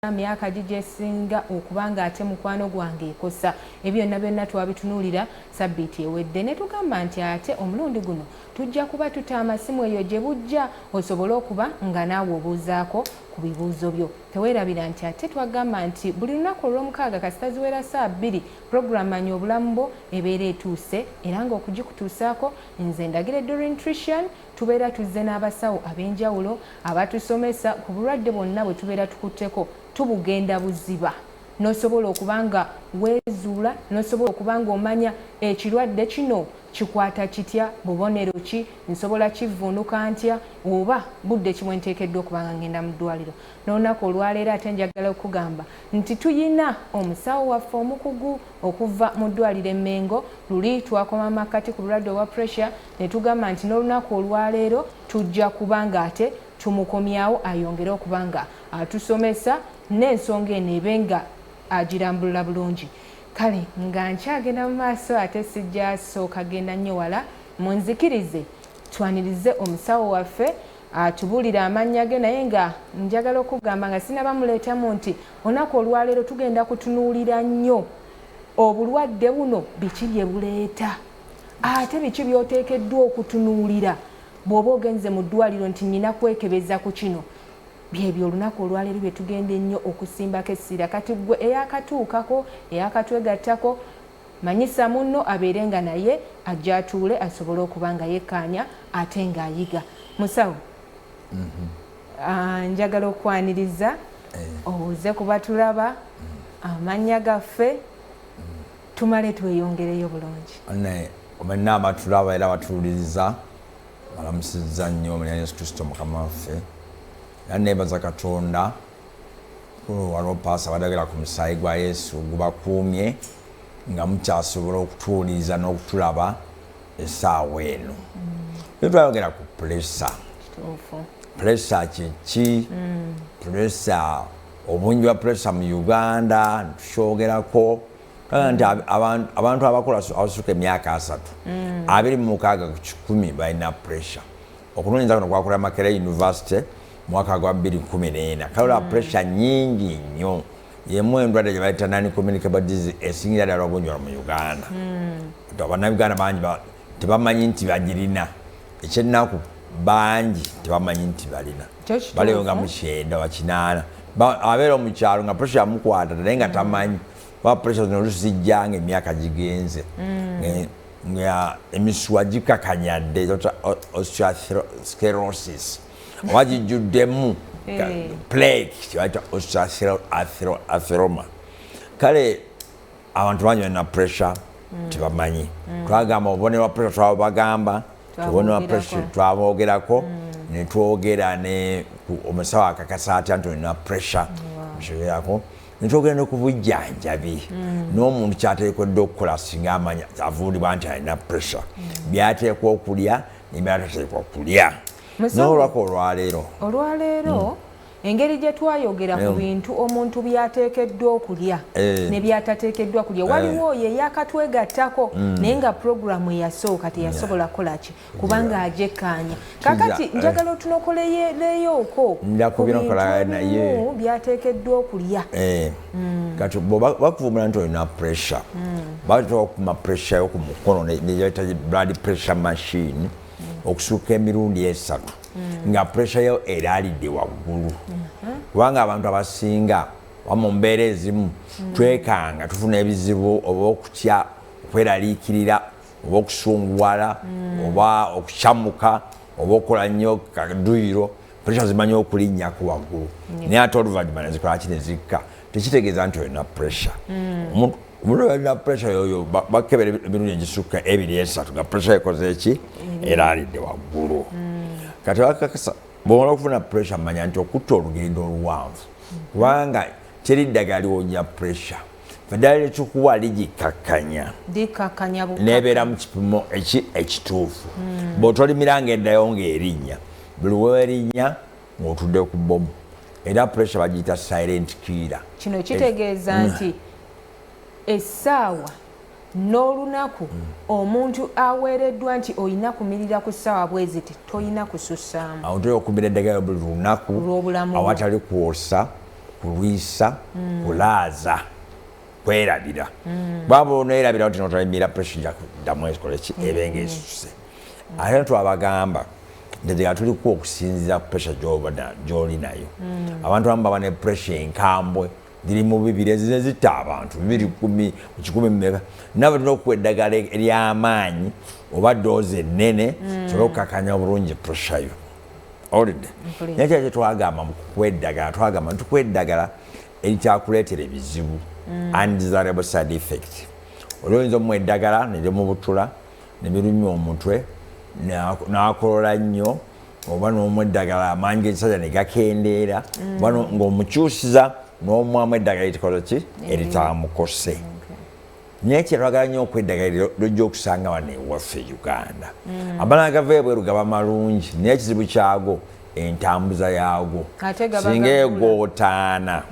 Era myaka gi gyesinga okuba nga ate mukwano gwange ekosa. Ebyo byonna byonna twabitunuulira sabbiiti ewedde ne tugamba nti ate omulundi guno tujja kuba tuta amasimu eyo gye bujja osobole okuba nga naawe obuuzaako ku bibuuzo byo. Teweerabira nti ate twagamba nti buli lunaku olw'omukaaga kasita ziwera ssaawa bbiri pulogulamanyi obulamu bwo ebeera etuuse era ng'okugikutuusaako nze Ndagire Doreen Trician Tubeera tuzze n'abasawo ab'enjawulo abatusomesa ku bulwadde bwonna bwe tubeera tukutteko, tubugenda buziba n'osobola okuba nga weezuula n'osobola okuba ng'omanya ekirwadde kino kikwata kitya, bubonero ki, nsobola kivvuunuka ntya oba budde ki bwe nteekeddwa okuba nga ngenda mu ddwaaliro. N'olunaku olwaleero ate njagala okukugamba nti tulina omusawo waffe omukugu okuva mu ddwaaliro e Mengo. Luli twakoma mu makkati ku bulwadde obwa Pressure, ne tugamba nti n'olunaku olwaleero tujja kuba ng'ate tumukomyawo ayongere okuba nga atusomesa n'ensonga eno ebe nga agirambulula bulungi kale nga nkyagenda mu maaso ate sijjasooka genda nnyo wala munzikirize twanirize omusawo waffe atubuulire amannya ge naye nga njagala okugamba nga sinaba muleetamu nti olunaku olwaleero tugenda kutunuulira nnyo obulwadde buno biki bye buleeta ate biki byoteekeddwa okutunuulira bw'oba ogenze mu ddwaliro nti nina kwekebeza ku kino byebyo olunaku olwaleero bye tugenda ennyo okusimbako essira kati ggwe eyakatuukako eyakatwegattako manyisa munno abeere nga naye ajja atuule asobole okuba nga yekkaanya ate ng'ayiga musawo mhm. ah, njagala okwaniriza eh. owuze kuba tulaba mm. amannya gaffe mm. tumale tweyongereyo bulungi naye kumenna abatulaba era batuwuliriza balamusizza nnyo munya yesu kristo mukama waffe era nebaza katonda walwopaasa badagala ku musaayi gwa yesu gubakuumye nga mukyasobola okutuwuliriza n'okutulaba esaawa eno mm. e twayogera ku pulesa pulesa kyeki pulesa mm. Obungi bwa puresa mu Uganda ntukyogerako kaga nti abantu abakola abasuka emyaka asatu mm. abiri mu mukaaga ku kikumi balina puresa okunoonyeza kuno kwakola makera university mwaka gwa 214 kale olaba mm. puresa nyingi nnyo yemu endwadde gye bayita nani communicable disease esingira ddala obungi wano mu uganda mm. abannauganda bangi tebamanyi nti bagirina ekyennaku bangi tebamanyi nti balina balewo nga mukyenda wakinaana abeera omukyalo nga pressure yamukwata naye nga tamanyi kuba pressure zino olusi zijja nga emyaka gigenze mm. nga emisuwa gikakanyadde osteosclerosis oba gijjuddemu eh. plague kyebaita osteosclerosis kale abantu bangi balina pressure mm. tebamanyi mm. twagamba obubonero bwa pressure twabagamba tubonero bwa pressure twaboogerako mm. netwogera ne omusawo akakasa atya nti olina pressure nkiyogerako wow. netwogera ne ku bujjanjabi mm. n'omuntu kyateekodde okukola singa amanya avuulibwa nti alina pressure mm. byateekwa okulya nebyatateekwa kulya nolwako olwaleero olwaleero mm. engeri gye twayogera ku bintu omuntu byateekeddwa okulya eh. ne byatateekeddwa kulya eh. waliwo oyo eyakatwegattako mm. naye nga puroguramu eyasooka teyasobola kukola ki kubanga ajekkaanya kakati eh. njagala otunokoleyoleyooko ku bintu ebimu byateekeddwa okulya mm. kati bakuvumbula nti olina pressure mm. bateeka okuma pressure yo ku mukono neyaita blood pressure machine okusuuka emirundi esatu mm. nga pressure yo eraalidde waggulu mm-hmm. kubanga abantu abasinga oba mu mbeera ezimu mm. twekanga tufuna ebizibu oba okutya okweraliikirira oba okusunguwala mm. oba okucamuka oba okukola nnyo kaduyiro pressure zimanyi okulinnyako waggulu naye ate oluvannyuma nezikolaki ne zikka tekitegeeza nti olina pressure omuntu balina pressure yoyo bakebera emirundi egisukka ebiri esatu nga pressure ekoze eki mm. era alidde waggulu mm. kati bakakasa bwomala okufuna pressure manya nti okutta olugendo oluwanvu mm. kubanga teri ddagala liwonya pressure eddagala lyekikuwa ligikakkanya nebeera mu kipimo ekituufu bwotolimira nga eddayo ngaerinnya buli werinnya ng'otudde ku bbomu era puresha bagiyita silent killer. Kino kitegeeza mm. nti essaawa n'olunaku mm. omuntu aweereddwa nti olina kumirira ku ssaawa bweziti tolina kusussaamu awo tolina okumira eddagala buli lunaku lwobulamu awatali kwosa kulwisa mm. kulaaza kwerabira bwaba onerabira nti notalimira puresha jakuddamu ekoleki ebenga esuse ate twabagamba ntegera tuliku okusinzira pressure gyobada gyoli nayo mm. abantu abamu baba ne pressure enkambwe ziri mu bibiri ezine zitta abantu bibiri kumi mukikumi mumeka naba tulina okuwa eddagala eryamaanyi oba doozi ennene mm. sobola okukakanya obulungi pressure yo olidde naye kyaki twagamba mukukuwa eddagala twagamba ntukuwa eddagala erikyakuleetera ebizibu mm. undesirable side effect olwoyinza omuwa eddagala nerimubutula ne birumya omutwe n'akolola nnyo oba n'omu eddagala amaanyi g'ekisajja ne gakendeera mm. oba ng'omukyusiza n'omwamu eddagala erikola ki mm. eritamukose naye kyetwagala nnyo okweddagala lojja okusanga wano ewaffe e uganda mm. amala gava ebweru gaba malungi naye ekizibu kyago entambuza yaago singa egootaana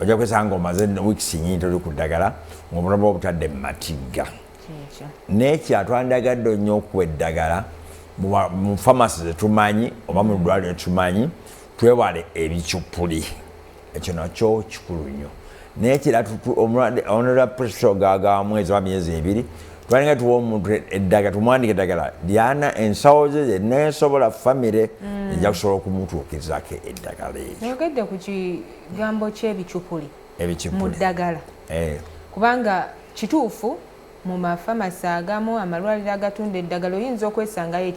ojja kwesanga omaze wiikisi nyingi toli ku ddagala ng'obulamu obutadde mu matigga naye kyatwandagadde onnyo okuwa eddagala mu famasi zetumanyi oba mu ddwaliro etumanyi twewale ebicupuli ekyo nakyo kikulu nnyo naye kira onera pusogaagamu eziba myezi ebiri twalinga tuwa omuntu eddagala tumwandika eddagala lyana ensawo ze zenna esobola famire mm. eja kusobola okumutuukizako eddagala ekyo oyogedde ku kigambo ky'ebicupuli mu ddagala eh. kubanga kituufu mu mafamasi agamu amalwaliro agatunda eddagala oyinza okwesangayo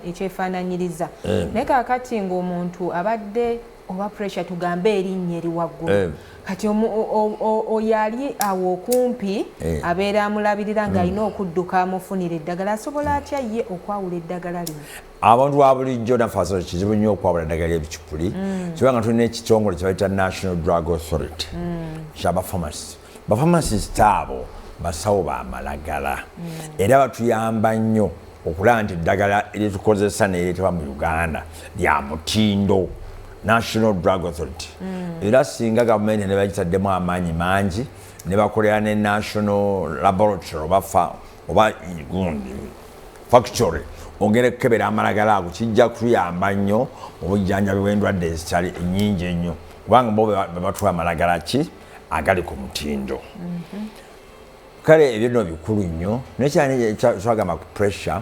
ekyefaananyiriza eh. naye kakati ng'omuntu abadde oba pressure tugambe erinnya eri waggulu eh. kati oyo ali awo okumpi eh. abeera amulabirira ng'alina mm. okudduka amufunira eddagala asobola atya ye okwawula eddagala lino abantu babulijjo nafaso kizibu nnyo okwabula eddagala ebicupuli mm. kibanga tulina ekitongole kyebayita national drug authority mm. kyabafamasi bafamasis taabo basawo bamalagala mm. era batuyamba nnyo okulaba nti eddagala lyetukozesa nereteba mu uganda lya mutindo national drug authority era singa gavumenti nebagitaddemu amaanyi mangi nebakolera ne national laboratory oba oba gundi factory ogenda okukebera amalagala ago kijja kutuyamba nnyo mu bujjanjabi bw'endwadde ezitali nyingi ennyo kubanga bo bebatula amalagala ki agali ku mutindo mhm. kale ebyo no bikulu nnyo nekyanekyagamba ku pressure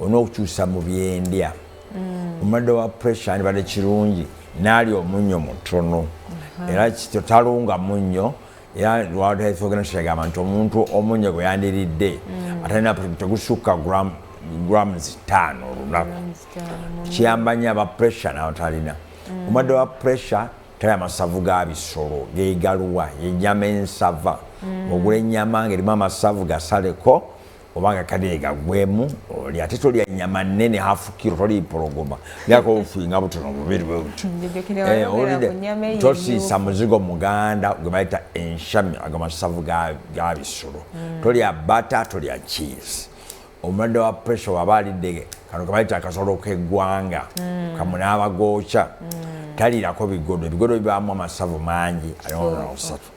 olina okukyusa mu byendya mm. omulwadde wa pressure andibadde kirungi naali omunnyo mutono mhm. era kityo talunga munnyo era lwaba tayesogera nti kyagamba nti omuntu omunyo gwe yandiridde mm. atalina tegusukka gram grams taano olunaku kiyamba nyo aba pressure nawo talina mm. omadde wa pressure tali amasavu ga bisolo gegaluwa enyama ensava mm. ogula enyama nga erimu amasavu gasaleko obanga kadeega gwemu oli ate tolya nyama nene hafu kiro toli mpologoma lyako ofuinga butono bubiri bwebutiowulidde eh, tosiisa muzigo muganda gwe bayita enshami ago masavu ga bisolo hmm. tolya bata tolya cheese omulwadde wa pressure waba alidde kano kebayita akasolo keggwanga hmm. kamunaaba gookya hmm. taliirako bigodo ebigodo bibaamu amasavu mangi ayonona osatu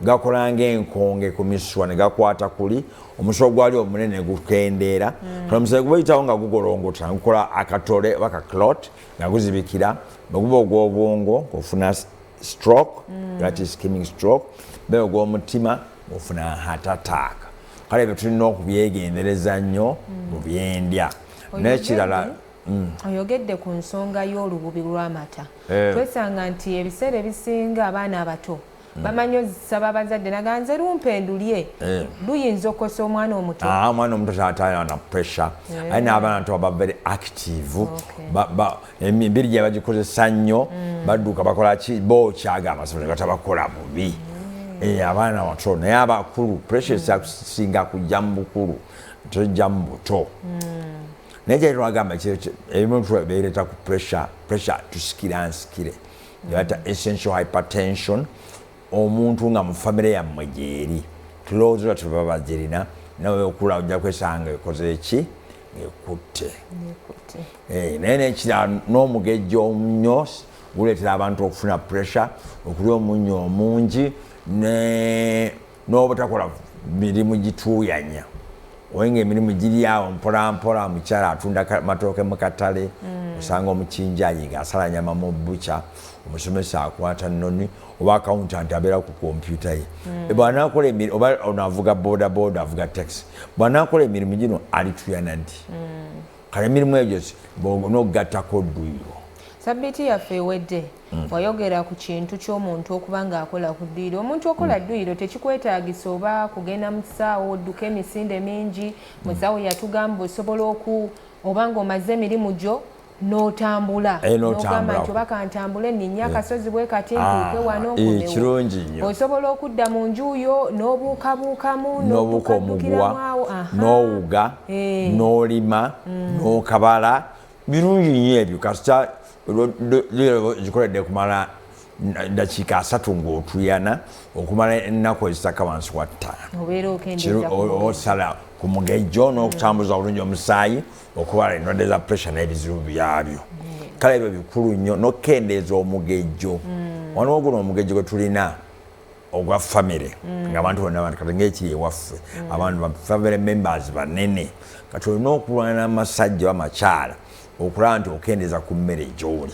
gakola ng'enkonge ku misuwa ne gakwata kuli omusuwa ogwali omunene ne gukendeera mm. kola omusaayi guba oyitawo nga gugolongota nga gukola akatole oba ka clot nga guzibikira bwe guba ogw'obwongo ofuna stroke mm. that is skimming stroke be ogw'omutima ofuna heart attack kale ebyo tulina okubyegendereza nnyo mu mm. byendya n'ekirala Mm. oyogedde ku nsonga y'olububi lw'amata eh. twesanga nti ebiseera ebisinga abaana abato Mm. bamanyi ozisaba abazadde naga nze lumpe ndulye eh. luyinza okukosa omwana omuto ah, omwana omuto tatayana pressure eh. aye n'abaana nto baba very active emibiri gye bagikozesa nnyo mm. badduka bakola ki bo kyaga amasomo ne batabakola bubi mm. eh, abaana bato naye abakulu pressure esakusinga kujja mu bukulu tojja mu buto naye kyali twagamba ebimu tubeereta ku pressure pressure tusikira nsikire yata essential hypertension omuntu nga mu famire yammwe gyeri tulowooza ola tuba bagirina nawe okula ojja kwesanga ekoze eki ekutte eh, naye nekira n'omugejja omunyo guleetera abantu okufuna pressure okulya omunyo omungi ne n'obutakola mirimu gituuyanya oye nga emirimu giri awo mpolampola omukyala atunda matooke mu katale mm. osanga omukinjayi nga asala nyama mu buca omusomesa akwata noni oba akauntant abeera ku kompyuta ye mm. bwanakola oba ono avuga bodaboda avuga taxi bwanakola emirimu gino alituyana nti mm. kale emirimu egyo nogattako dduyiro sabiiti yaffe ewedde Mm. wayogera ku kintu ky'omuntu okuba ng'akola ku dduyiro omuntu okola mm. dduyiro tekikwetaagisa oba kugenda mu kisaawo odduka emisinde mingi mm. musawo yatugamba osobola oku oba ng'omaze emirimu gyo n'otambula eh, nogamba nti oba kantambule ninnya eh. akasozi bwe kati ah, ntuuke wano eh, nkirungi nnyo osobola okudda mu nju yo n'obuukabuukamu n'obuuka omuguwa n'owuga n'olima mm. n'okabala Birungi nnyo ebyo kasita zikoledde kumala dakiika asatu ng'otuyana okumala ennaku ezitaka wansi wa ttaano osala ku mugejjo n'okutambuza obulungi omusaayi okubala endwadde za pressure n'ebizibu byabyo kale ebyo bikulu nnyo n'okukendeeza omugejjo mm. waliwo guno omugejjo gwe tulina ogwa famire mm. ngaabantu bonna kati ngaekiri ewaffe mm. abantu famire members banene kati olina okulwana amasajja oba amakyala okulaba nti okendeeza ku mmere gyoli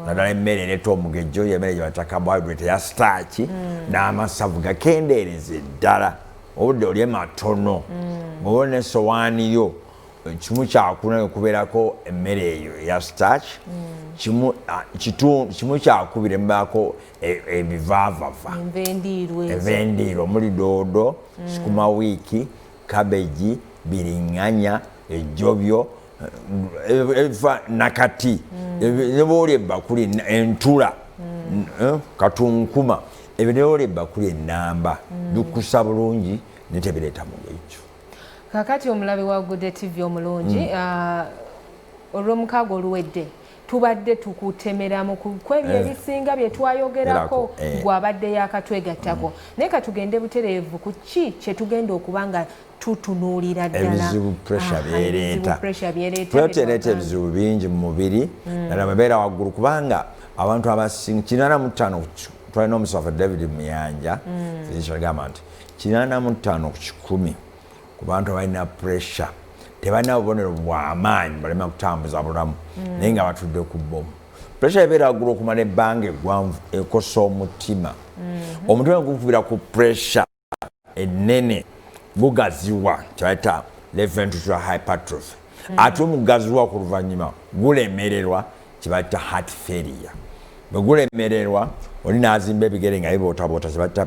naddala emmere ereta omugejjo yemmere gyebayita carbohydrate ya staaki mm. n'amasavu gakendeereza eddala obudde olye matono oba nesowaani yo kimu kyakuna okubeerako emmere eyo eya staaki kimu kyakubiri mubaako E, ebivaavava envendiirwa omuli doodo mm. sukuma wiiki kabeji biringanya ejjobyo eva nakati mm. nebooli ebbakuli entula mm. eh, katunkuma ebyo nebooli ebbakuli enamba bikusa bulungi netebireeta mugekyo kakati omulabi wa gude tv omulungi ah, olwomukaaga oluwedde tubadde tukutemeramu kwebyo eh. ebisinga bye twayogerako eh. gwabadde yakatwegattako mm. naye katugende butereevu ku ki kye tugenda okuba nga tutunuulira ddalaebizibu byereeta ebizibu bingi mu mubiri mm. nala babeera waggulu kubanga abantu abasinga kinana mu ttaano twalina omusafa david muyanja mm. agamba nti kinana mu ttaano ku kikumi ku bantu abalina puresha tebalina bubonero bwamaanyi balema kutambuza bulamu mm. naye nga batudde ku bbomu puresha ebeera agula okumala ebbanga eggwanvu ekosa omutima mm-hmm. omutima gukubira ku puresha ennene gugaziwa kyebayita leventutra hypertrophy mm. ate omugaziwa ku luvannyuma gulemererwa kyebayita heart failure bwe gulemererwa oli n'azimba ebigere nga bibootaboota kyebayita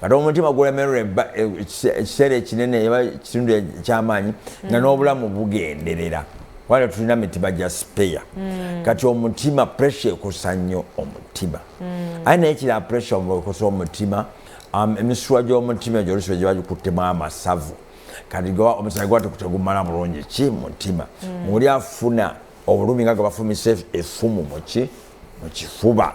kati omutima gulemerwa ekiseera ekinene eba kitundu ekyamaanyi nga n'obulamu bugenderera wala tulina mitima gya sipeya mm. kati omutima pressure ekosa nnyo omutima mm. aye naye kira pressure ekosa omutima um, emisuwa gy'omutima egyo olusiba giba gikuttemu amasavu kati omusaayi gwa tegumala bulungi ki mutima mm. oli afuna obulumi nga gabafumisa efumu muki mu kifuba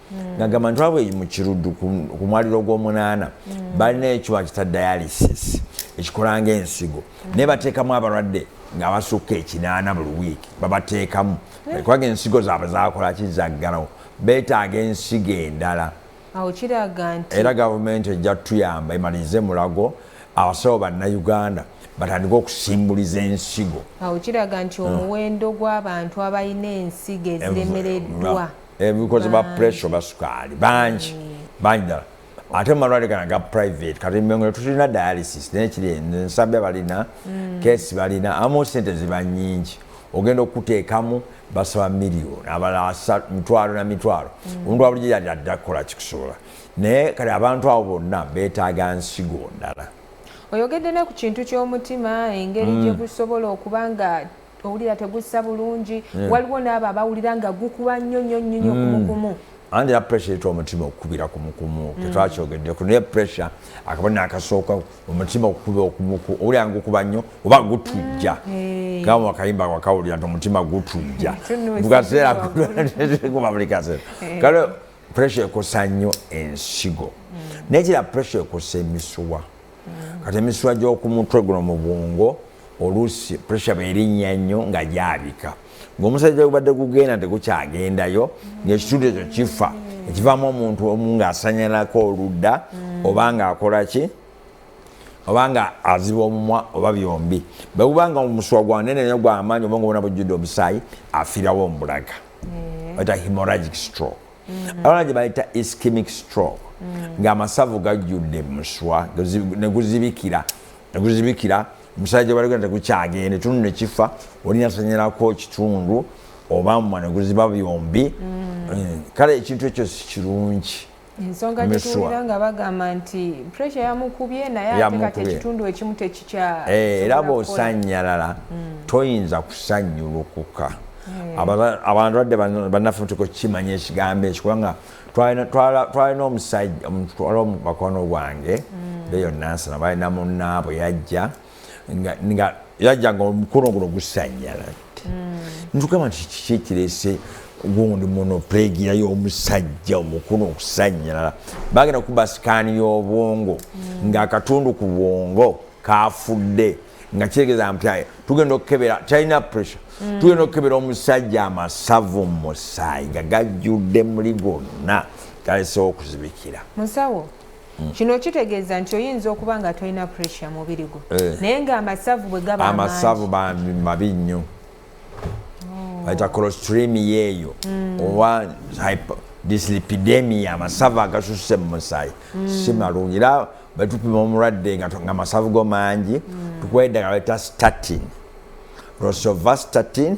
mm. nagamba nti wabwe mu kiruddu ku mwaliro ogw'omunaana mm. balina ekiwa kita dialysis ekikola ngaensigo mm. naye bateekamu abalwadde ng'abasukka ekinaana buli wiiki babateekamu eh? kubanga ensigo zaabwe zakolaki zaggalawo beetaaga ensigo endala era gavumenti ejja tuyamba emalirize mulago abasawo bannayuganda batandika okusimbuliza ensigo awo kiraga nti hmm. omuwendo gw'abantu abalina ensigo eziremereddwa ebikoze ba pressure oba sukaali bangi bangi ddala ate mumalwale gana ga private kati mengo tulina dialysis naye kiri ensabbi abalina mm. kesi balina amu sente ziba nyingi ogenda okuteekamu basaba miliyoni abalala mitwalo na mitwalo mm. omuntu wabulijo yali adda kukola kikusobola naye kati abantu abo bonna beetaaga nsigo ndala oyogedde ne ku kintu ky'omutima engeri mm. gye gusobola okuba nga owulira tegussa bulungi yeah. waliwo n'abo abawulira nga gukuba nnyo nnyo nnyo nnyo mm. kumukumu andi ya pressure etwa omutima okukubira kumukumu mm. tetwakyogeddeko naye pressure akabona akasooka omutima okukuba okumuku owulira nga gukuba nnyo oba gutujja mm. Eh. kama wakayimba wakawulira nti omutima gutujja mukaseera kuba buli kaseera eh. kale pressure ekosa nnyo ensigo mm. nekira pressure ekosa emisuwa kati emisuwa gy'oku mutwe guno mu bwongo oluusi pressure bwerinnya nnyo nga gyabika ng'omusajja gubadde gugenda tegukyagendayo ng'ekitundu ekyo kifa ekivaamu omuntu omu ng'asanyalako oludda mm. oba ng'akola ki oba nga aziba omumwa oba byombi bwe guba nga omusuwa gwa nene nyo gw'amaanyi oba nga obona bujjudde omusaayi afirawo omubulaga eh. eta hemorragic stroke mm. abalala gye bayita ischemic stroke mm. ng'amasavu gajjudde muswa neguzibikira neguzibikira omusajja baligenda tegukyagende tunu nekifa oli nasanyalako kitundu oba mwa neguziba byombi mm. eh, kale ekintu ekyo sikirungi ensonga gyetuwulira nga bagamba nti pressure yamukubye naye ate kati ekitundu ekimu Eh, era bw'osanyalala mm. toyinza kusanyulukuka mm. abantu badde bannaffe mutuka okukimanya ekigambo ekyo kubanga twalina omusajja omutwala omubakono gwange mm. beyo nansana balina munnaabwe yajja nga yajja nga omukono guno gusanyala mm. ntugamba nti kiki ekirese gundi muno pulegiya y'omusajja omukulu okusanyalala bagenda kuba sikaani y'obwongo mm. ng'akatundu ku bwongo kafudde nga kitegeza mpyaye tugenda okukebera talina pressure mm. tugenda okukebera omusajja amasavu mumusaayi nga gajjudde muli gonna galesewo okuzibikira musawo Mm. kino kitegeeza nti oyinza okuba nga tolina pressure mubiri gwo eh. naye nga amasavu bwe gaba amasavu bambi mabi nnyo oh. bayita colostremia eyo mm. oba dislipidemia amasavu agasusse mu musaayi mm. si malungi era bwetupima omulwadde nga amasavu go mangi tukuwa eddagala bayita statin rosovastatin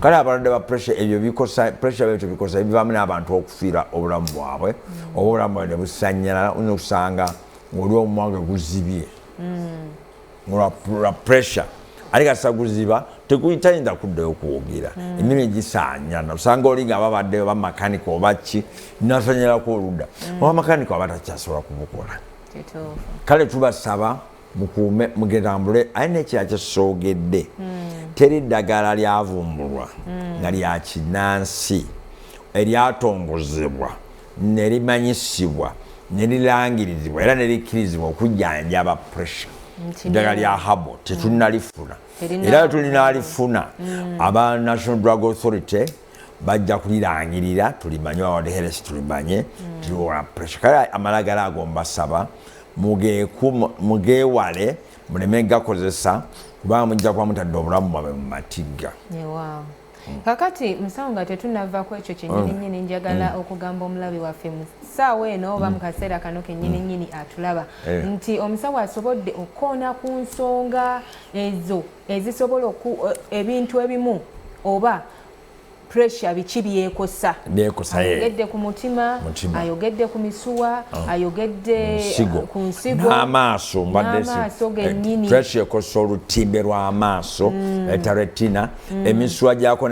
kale abalwadde ba pressure ebyo bikosa pressure byo tubikosa ebivamu n'abantu okufiira obulamu bwabwe mm. oba obulamu bwabwe nebusanyalala oyinza okusanga ngaoli omumwange guzibye mm. lwa pressure ate kasa guziba tekuyitayinza kuddayo kwogera mm. emimu egisanyana osanga oli nga babadde oba makanika oba ki nasanyalako oludda oba makanika aba takyasobola kubukola kale tubasaba mukuume mugetambule aye nekira kyesogedde hmm. teri ddagala lyavumbulwa hmm. nga lya kinansi eryatongozebwa nerimanyisibwa nerilangirizibwa era nerikkirizibwa okujjanjaba pressure eddagala lya habo tetunalifuna era tulina alifuna aba national drug authority bajja kulirangirira tulimanye wawadeheresi tulimanye mm. tuliwola pressure kale amalagala ago mbasaba mugeewale muleme gakozesa kubanga mujja kuba mutadde obulamu bwabwe mu matigga mm. kakati musawo nga tetunava ku ekyo kyenyininyini mm. njagala mm. okugamba omulabi waffe mu ssaawa eno oba mu kaseera kano kenyininyini atulaba eh. nti omusawo asobodde okukoona ku nsonga ezo ezisobola oku e, ebintu ebimu oba pressure biki byekosa ayogedde ku mutima ayogedde ku misuwa oh. ayogedde uh, ku nsigo n'amaaso eh, gennyini pressure ekosa olutimbe lw'amaaso mm. etaretina eh, mm. emisuwa gyako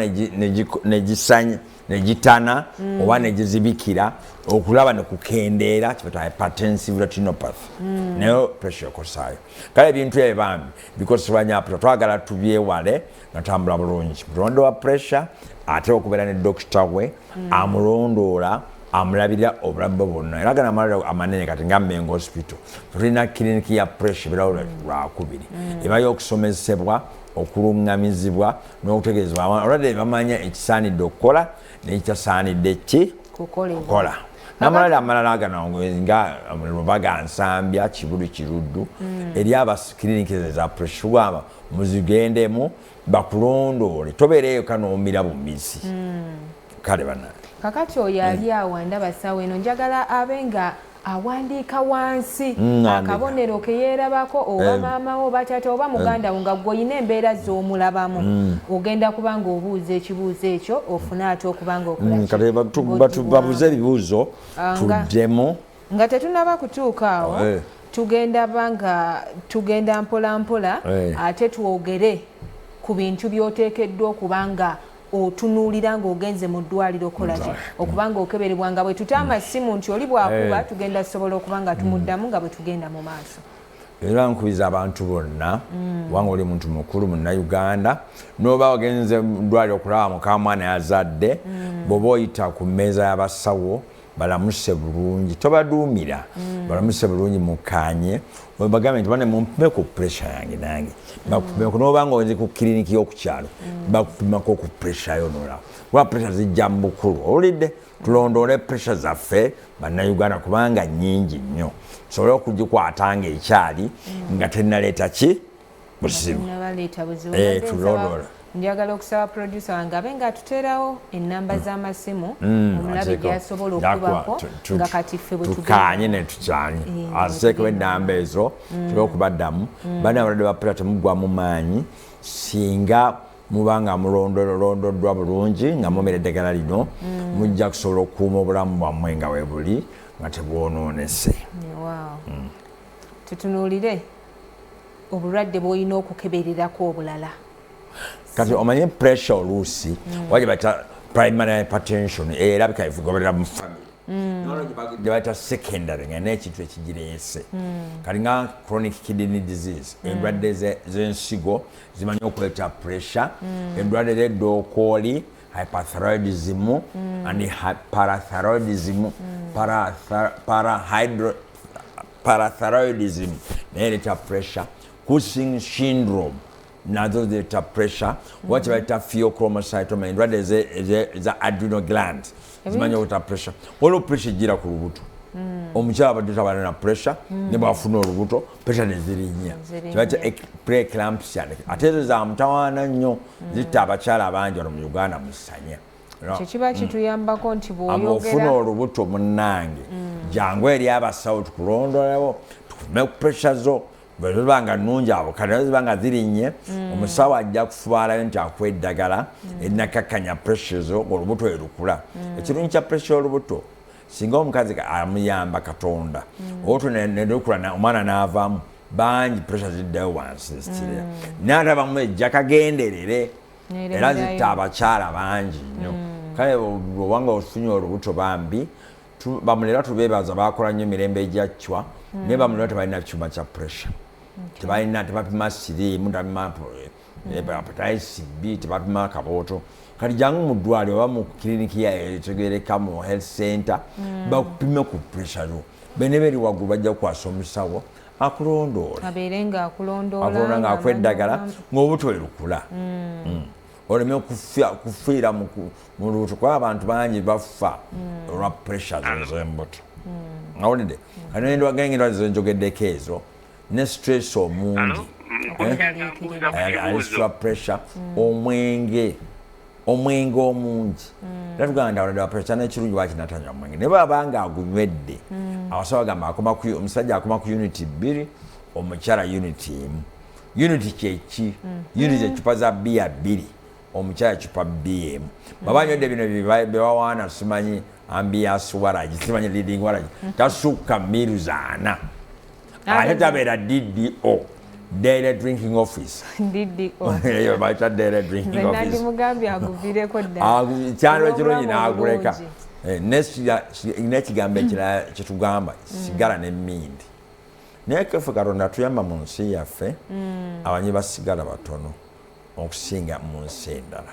negisanya negitana mm. oba negizibikira okulaba nekukendeera kibata hypertensive retinopathy mm. nayo pressure ekosaayo kale ebintu ebyo bambi bikozesebwa nyaputa twagala tubyewale nga tambula bulungi mulondo wa pressure ate okubeera ne dokita we mm. amulondoola amulabirira obulamu bwe bwonna era gana amalwaliro amanene kati nga mengo hospital tulina kiriniki ya pressure birawo lwakubiri mm. eba y'okusomesebwa okulungamizibwa n'okutegeeza abalwadde bamanya ekisaanidde okukola n'ekitasaanidde ki kukola namalala amalala agano nga lubaga nsambya kibuli kiruddu hmm. eri abakliniki za preshuwama muzigendemu bakulondoole tobeereeyo kanoomira bumizi hmm. kale bana kakati oyo ali hmm. awo ndaba sawa eno njagala abe nga awandiika wansi mm, akabonero ke yeerabako oba eh. maama wo oba taata oba eh. muganda wo nga gwe olina embeera z'omulabamu mm. ogenda kuba nga obuuza ekibuuzo ekyo ofune ate okuba nga okulababuze mm, ebibuuzo ah, tuddemu nga tetunaba kutuuka awo eh. tugenda banga tugenda mpolampola ate twogere ku bintu by'oteekeddwa okuba nga otunuulira ng'ogenze mu ddwaliro okolaki okuba ng'okeberebwa nga bwe tuta amasimu nti oli bwakuba eh. tugenda sobola okuba nga tumuddamu nga bwe tugenda mu maaso era nkubiriza abantu bonna mm. kubanga oli muntu mukulu munnayuganda noba wagenze mudwaliro okulaba mukamwana yazadde mm. bwoba oyita ku mmeeza y'abasawo balamuse bulungi tobaduumira mm. balamuse bulungi mukanye bagambe nti bane mumpe ku puresha yange nange bakupimeko noba nga ozi ku kiriniki y'okukyalo mm. bakupimako ku puresha yo nolaba kuba puresha zijja mu bukulu owulidde tulondoole puresha zaffe bannayuganda kubanga nyingi nnyo tusobole okugikwata nga ekyali mm. nga tenaleeta ki buzibu eh, tulondola njagala okusaba producer wange abe nga atuterawo enamba mm. z'amasimu mm, omulabe gyasobola okubako nga kati ffe bwetukanye netukyanye eh, azeeko enamba ezo mm. tube okubaddamu bana abalade bapula temugwa mu maanyi singa muba nga mulondolondoddwa bulungi nga mumira eddagala lino mujja kusobola okukuuma obulamu bwammwe nga webuli nga tebwonoonese tutunuulire obulwadde bwolina okukebererako obulala kati omanye pressure oluusi mm. waje bata primary hypertension erabika evugoberera mu family gyebayita mm. secondary nga nekintu ekigirese mm. kati nga chronic kidney disease mm. endwadde zensigo zimanyi okuleta pressure endwadde zedokooli hyperthyroidism and parathyroidism parathyroidism naye ereeta pressure cushing syndrome nazo zireeta pressure oba kyebayita pheochromocytoma endwadde eza adrenal gland zimanyi okuta pressure waliwo pressure ejjira ku lubuto hmm. omukyala abadde tabana na pressure hmm. ne bwafuna olubuto pressure nezirinya kibaita preeclampsia ate ezo zamutawaana nnyo hmm. zitta abakyala abangi wano mu uganda musanya ekyo kiba mm. kituyambako nti bwoyogera olubuto munnange mm. jangu eri abasawo tukulondolawo tukume ku pressure zo bweziba nga nungi abo kati nazo ziba nga zirinnye mm. omusawo ajja kufubaalayo nti akuwa eddagala erinakakkanya pressure zo olubuto erukula ekirungi kya pressure olubuto singa omukazi amuyamba katonda olutwe nerukula omwana n'avaamu bangi pressure ziddayo wansi zitire naye ate abamu ejja kagenderere era zitta abakyala bangi nnyo mm. kale obanga ofunye olubuto bambi bamulera tubebaza bakola nnyo emirembe egyacwa mm. naye bamulera tebalina kyuma kya pressure tebalina tebapima siriimu tebapima hepatitis mm. eh, b tebapima akabooto kati jangu mu ddwaliro oba mu kiriniki etegereka mu health center bakupime ku pressure yo bene beri waggulu bajja kukwasa omusawo akulondoole abeere nga akulondoola nga akwa eddagala ng'obutwe lukula mm. Mm. oleme kufiira mu lubuto kuba abantu bangi bafa mm. olwa pressure zezembuto awulidde kati nendwa gengera zenjogeddeko ezo ne stress omungi eh? eh, alisitula pressure omwenge omwenge omungi mm. era tugamba nti awadde wapeesa nekirungi waki natanywa omwenge naye baba nga agunywedde mm. abasawo agamba akoma ku omusajja akoma ku uniti bbiri omukyala uniti emu uniti kyeki mm. uniti zecupa za biya bbiri omukyala cupa biya emu baba nywedde bino byebawaana simanyi ambiyasi waragi simanyi leading waragi tasukka miru zaana ate tabeera ddo daily drinking office eyo bayita daily drinking office kyalo ekirungi n'aguleka Eh, nekigambo ekirala mm. kyetugamba mm. sigala ne mindi naye kefe katonda tuyamba mu nsi yaffe mm. abanyi basigala batono okusinga mu nsi endala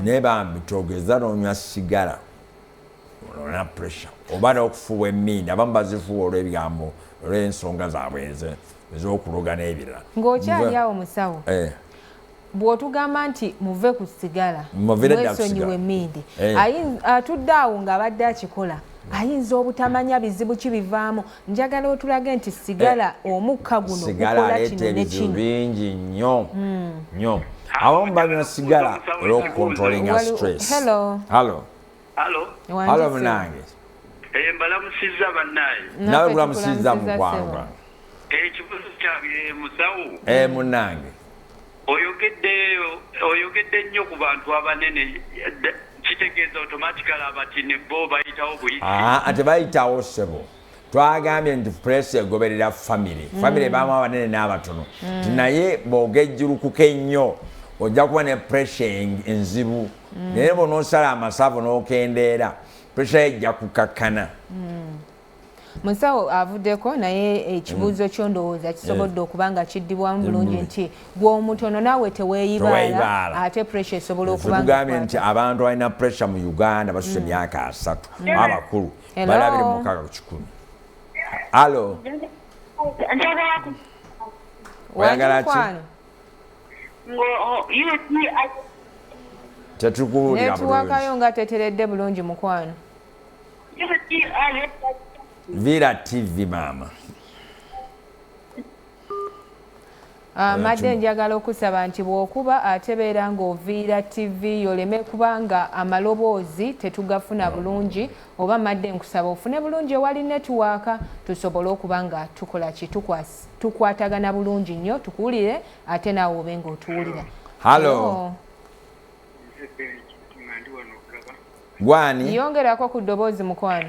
naye bambi togeza nonywa sigala olona pressure oba n'okufuuwa emmindi abamu bazifuuwa olw'ebigambo olw'ensonga zaabwe eze ez'okuloga n'ebirala ng'okyali awo musawo eh. bw'otugamba nti muve ku sigala mwesonyiwa emmindi eh. atudde awo ng'abadde akikola ayinza obutamanya bizibu ki bivaamu njagala otulage nti sigala eh, omukka guno gukola kino nekino bingi nnyo hmm. nnyo abamu banywa sigala olwokukontrolinga stress hello hello Halo. Halo munange. Eh mbalamusizza bannaye. Nawe kulamusizza mukwanga. Eh kibuzo kyange musawo. Eh munange. Oyogedde oyogedde nnyo ku bantu abanene kitegeeza automatically abati ne bo bayitawo buyisi. Ah, ate bayitawo sebo. Ah, twagambye nti pulesi egoberera famire mm. famire baamu abanene n'abatono mm. ti naye bwogejjulukuka ennyo ojja kuba ne puresha enzibu mm. naye bwonosala amasavu n'okendeera puresha ye ejja kukakkana musawo avuddeko naye ekibuuzo kyo ndowooza kisobodde eh. okuba nga kiddibwamu bulungi nti gweomutono naawe teweeyibaala ate puresha esobola okubagambye nti abantu balina puresha mu uganda basusa emyaka asatu abakulu bali abiri mu mukaaga ku kikumi alo oyagala ki tetukuwuliranetuwakayo nga teteredde bulungi mukwano vira tv maama Ah, madde njagala okusaba nti bwokuba atebeera ng'oviira tv yoleme kubanga amaloboozi tetugafuna bulungi oba madde nkusaba ofune bulungi ewali netiwaaka tusobole okuba nga tukola ki tukwatagana bulungi nnyo tukuwulire ate naawe obe ng'otuwulira halo gwani yongerako ku ddoboozi mukwano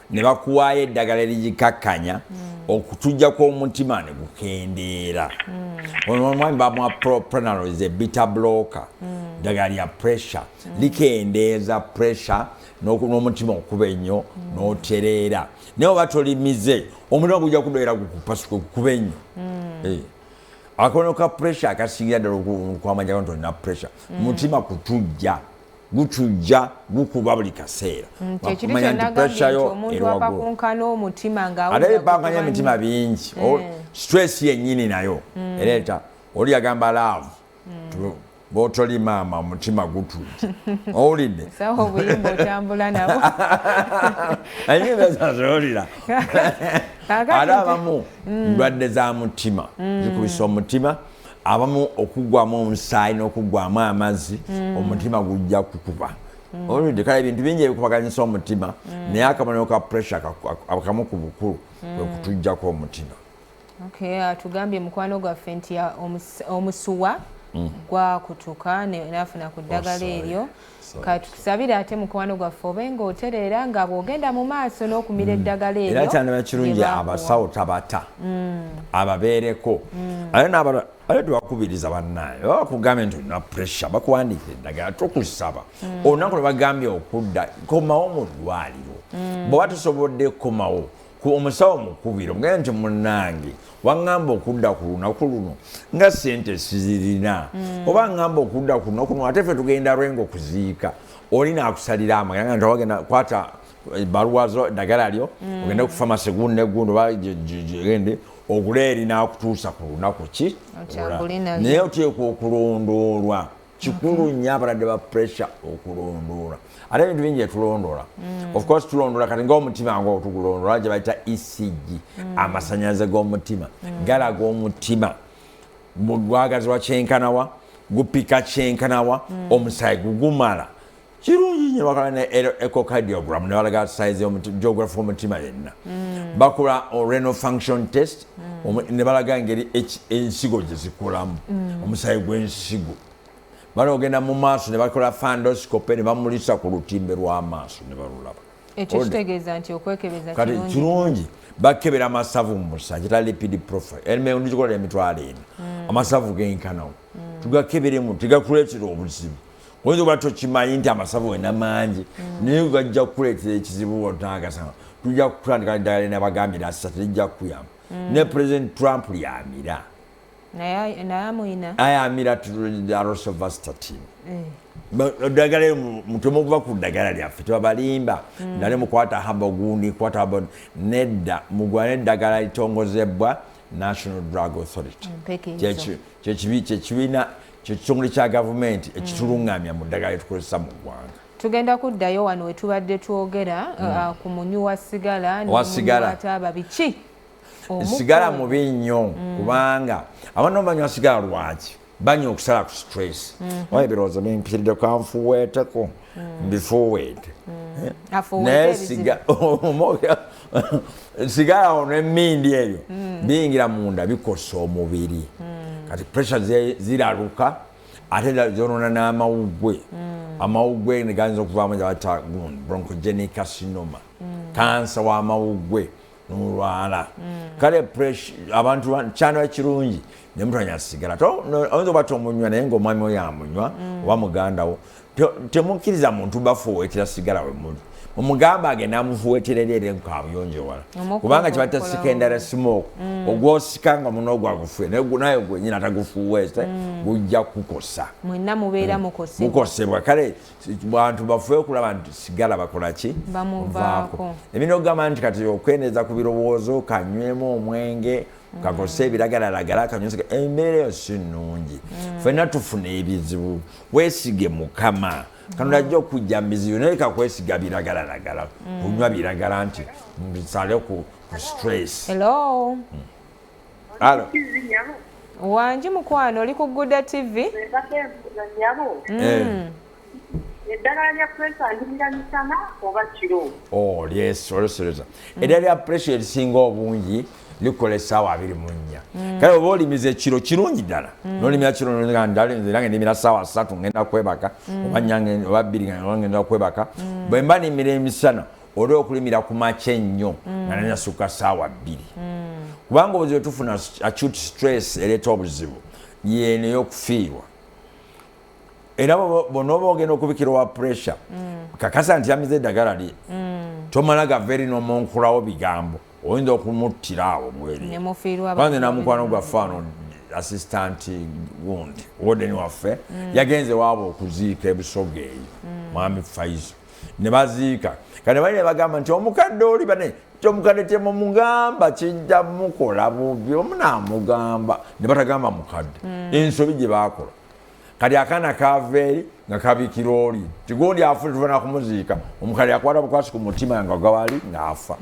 ne bakuwaayo eddagala erigikakkanya mm. okutujja kw'omutima ne gukendeera mm. ono omwami bamwa propranolos ebita bloka mm. ddagala lya pressure likendeeza pressure n'omutima okuba ennyo n'otereera naye oba tolimize omutima gujja kubeera gukupasuka okukuba ennyo eh. akono ka pressure akasingira ddala okwamanya nti olina pressure mutima kutujja gutujja gukuba buli kaseera mm, wakumanya nti pressure yo eri waggulu ate bipanganya emitima bingi mm. stress yennyini nayo mm. ereeta oli yagamba laavu botoli maama omutima gutujja owulidde ayinazazolira ate abamu ndwadde za mutima zikubisa omutima abamu okuggwamu omusaayi n'okuggwamu amazzi mm. omutima gujja kukuba mm. olwedde kale ebintu bingi ebikubaganyisa omutima mm. naye akabonero ka pressure akamu ku bukulu kwe kutujjako omutima atugambye mukwano gwaffe nti omusuwa gwakutuka nafuna ku ddagala oh, eryo katukusabire ate mukwano gwaffe obe nga otereera nga bwogenda mu maaso n'okumira mm. eddagala eryo era kyandaba kirungi abasawo tabata mm. ababeereko mm. ate n'abala ate tewakubiriza bannaye oba bakugambye nti olina pressure bakuwandiika eddagala tokusaba olunaku lwe bagambye okudda komawo mu ddwaliro bwewa tusobodde kukomawo ku omusawo mukubiro mugenda nti munange waŋŋamba okudda ku lunaku luno nga sente sizirina mm. oba ŋŋamba okudda ku lunaku luno ate fe tugenda lwenga okuziika oli naakusalira amagera nga ntawagenda kwata ebbaluwa zo eddagala lyo mm. ogende ku famasi gundi negundi oba gende ogule eri naakutuusa ku lunaku ki naye oteekwa okulondoolwa kikulu okay. nnyo abalwadde ba pressure okulondoola ate ebintu bingi etulondoola mm. of course tulondoola kati ngaomutima nga otugulondoola gye bayita ecg mm. amasanyalaze g'omutima mm. galaga omutima gwagazibwa kyenkanawa gupika kyenkanawa mm. omusaayi gugumala kirungi nyo bakala ne echocardiogram ne balaga size geography omutima yenna mm. bakula renal function test mm. ne balaga engeri ensigo gyezikulamu mm. omusayi gw'ensigo bana ogenda mu maaso ne bakola fandoscope ne bamulisa ku lutimbe lw'amaaso ne balulaba ekyo kitegeeza nti okwekebeza kati kirungi bakebera amasavu mu musa kita lipid profile emeyo ndikikola emitwalo ena amasavu genkanawo tugakeberemu tigakuleetera obuzibu oyinza oba tokimanyi nti amasavu wena mangi mm. naye gajja kukuleetera ekizibu otangasanga tujja kutandika eddagala linabagambira assa telijja kukuyamba mm. ne president trump lyamira ayamira arosovastatin eddagala eh. eyo mutemu okuva ku ddagala lyaffe tebabalimba mm. nale mukwata haba ogundi kwata haba nedda mugwana eddagala litongozebbwa national drug authority kyekibiina kyo kitongole kya gavumenti ekitulungamya mu ddagala lyetukozesa mu ggwanga tugenda kuddayo wano wetubadde twogera hmm. uh, ku munywi wa sigala nwasigalaaba biki sigala mubi nnyo hmm. kubanga abaana banywa sigala lwaki banywa okusala ku stress hmm. oyo ebirowoozo bimpiridde kanfuweeteko mm -hmm. mbifuuweete naye siga- omwoyo- sigala ono emindi ebyo biyingira munda bikosa omubiri kati pressure ze- ziraluka ate da- zonona n'amawuggwe amawuggwe neganza okuvaamu gyebatta bronchogenic carcinoma kansa w'amawuggwe nolwala mm. kale abantu kyandaba kirungi nemutanya sigala oyinza oba tomunywa naye ngaomwami oyo amunywa mm. oba mugandawo temukkiriza muntu bafuwetera sigala wemuli omugamba agende amufuwetera eri eri nkabuyonjewala kubanga kibatta secondary smoke mm. ogwosika nga muno ogwagufuwe naye gwenyini atagufuwese gujja kukosa mukosebwa kale bantu bafe okulaba nti sigala bakolaki bamuvaako ebina okugamba nti kati okwendeeza ku birowoozo kanywemu omwenge mm. kakose ebiragalalagala kanyusi embeera eyo si nnungi mm. fena tufuna ebizibu wesige mukama kanula ajja okujja mubizibu naye kakwesiga biragalalagala mm. kunywa biragala nti mbisale ku stress Alo. Wanji mukwano oli ku Guda TV. Mm. Eh. Eddagala lya pressure ndimira misana oba kiro. Oh, yes, olusereza. Mm. Eddagala lya pressure erisinga obungi likola essaawa abiri mu nnya. Mm. Kale oba olimiza ekiro kirungi ddala. Mm. Nolimira kiro nolinga ndala nze nange ndimira ssaawa ssatu ngenda kwebaka mm. oba nyange oba bbiri nga ngenda kwebaka. Mm. Bwe mba nimira emisana oba okulimira ku makya ennyo mm. nga nanasukka saawa bbiri mm. kubanga obuzibu tufuna acute stress ereeta obuzibu yeeno eyokufiirwa era bonoba ogenda okubikira owa pressure mm. kakasa nti yamize eddagala lye tomala gava eri nomunkulawo bigambo oyinza okumuttira awo mwereanze namukwano gwafaano assistant wund woden waffe yagenze waaba okuziika ebusoga eyo mwami faizo ne baziika kati bali ne bagamba nti omukadde oli bane nti omukadde temumugamba kijja mukola bubi omu naamugamba ne batagamba mukadde hmm. ensobi gye baakola kati akaana kaava eri nga kabikira oli tigundi afuna tuvana kumuziika omukadde yakwata bukwasi ku mutima nga gawali ng'afa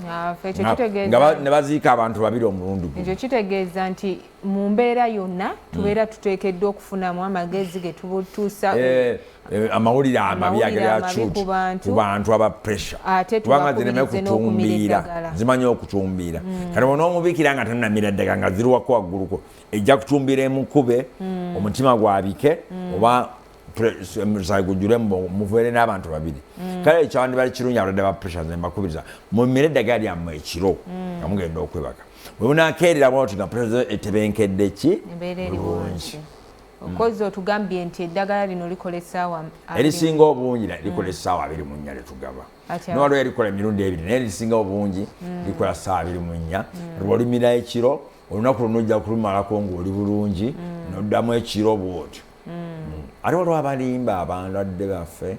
ne baziika abantu babiri omulundi guno ekyo kitegeeza nti mu mbeera yonna hmm. tubeera tuteekeddwa okufunamu amagezi ge tubutuusa eh, eh, amawulire amabi ageracut ku bantu aba pressure kubanga zireme kutumbiira zimanyi okutumbiira hmm. kati bona omubikira nga tanamira ddeka nga ziriwako wagguluko ejja kutumbiira emukube hmm. omutima gwabike oba omusayi gujule muveere n'abantu babiri mm. kale ekyawandibali kirungi abalwadde ba pressure nze mbakubiriza mumire eddagala lyammwe ekiro mm. nga mugenda okwebaka bwe munakeerera bwati nga pressure etebenkedde ki bulungi okozi otugambye nti eddagala lino likola essaawa erisinga obungi likola mm. essaawa abiri mu nnya lyetugaba nowaliwo erikola emirundi ebiri naye erisinga obungi likola ssaawa abiri mu nnya lwolimira ekiro olunaku luno ojja kulumalako ngaoli bulungi noddamu ekiro bwotyo mm. ate waliwo abalimba abandwadde baffe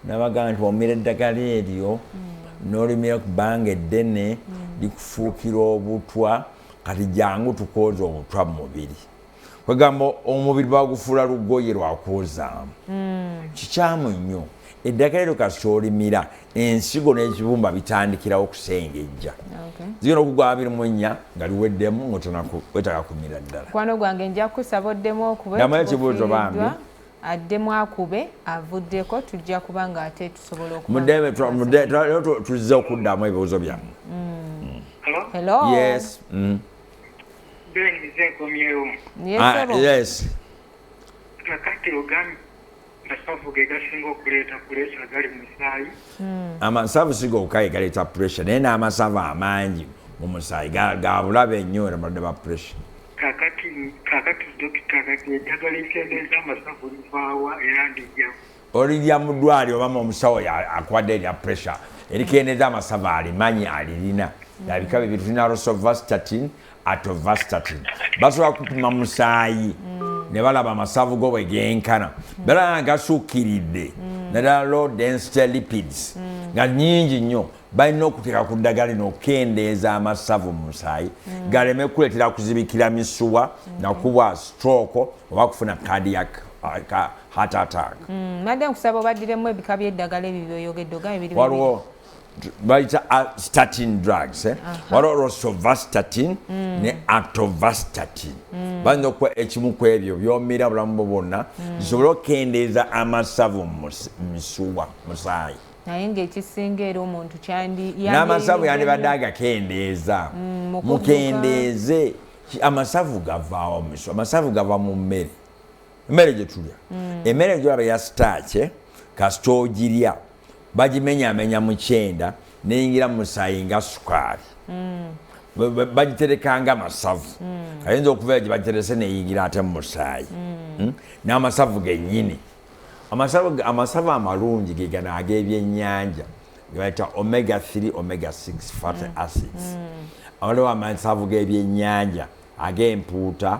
nabagamba nti omira eddagala eryo mm. nolimira ku bbanga eddene mm. likufuukira obutwa kati jangu tukwoza obutwa mu mubiri kwegamba omubiri bagufuula lugoye lwakwozaamu kikyamu nnyo Eddagala eryo kasita olimira ensigo n'ekibumba bitandikirawo kusengejja zigenda okugwa abiri mu ennya nga liweddemu ngotwetaka kumira ddala kwano gwange nja kukusaba oddemu okubekibuuzo bambi addemu akube avuddeko tujja kuba nga ate tusobola okutuzze okuddamu ebibuuzo byammwe mm. hello yes mm. yes ah, yes kakati ogambye amasavu ge gasinga okuleeta puleesa agali mu musaayi hmm. amasavu si gokka ge galeeta pureesa naye n'amasavu amangi mu musaayi gabulabe ennyo era balwadde ba pureesa kakati kakati dokita kati eddagala ekendeeza amasavu livaawa era ndijja olirya mu ddwali oba mu omusawo akuwadde erya pureesa erikendeeza amasavu alimanyi alirina yabika bibiri tulina rosovastatin atovastatin basobola kupima musaayi mm. ne balaba amasavu go bwe genkana mm. balaba gasukkiridde mm. naddala low density lipids nga nyingi nnyo balina okuteeka ku ddagala lino okukendeeza amasavu mu musaayi galeme kuleetera kuzibikira misuwa nakubwa stroke oba kufuna cardiac uh, heart attack madam kusaba obaddiremu ebika by'eddagala ebyo byoyogedde ogambye biri waliwo bayita statin drugs eh? waliwo rosovastatin mm. ne atovastatin mm. bayinza okuba ekimu ku ebyo byomira bulamu bwo bwonna mm. zisobole okukendeeza amasavu mu misuwa musaayi naye ngaekisinga era omuntu kyandin'amasavu yandibadde agakendeeza mm, mukendeeze amasavu gavaawo misu amasavu gava mu mmere emmere gye tulya mm. emmere gyolaba ya sitaakye kasita ogirya bagimenyamenya mu kyenda neyingira mu musaayi nga sukaali mm. bagitereka nga amasavu mm. ayinza okubeera gye bagiterese neyingira ate mu musaayi hmm? n'amasavu gennyini amasavu amalungi ge gano ag'ebyennyanja gebayita omega 3 omega 6 fat acids awaliwo amasavu g'ebyennyanja ag'empuuta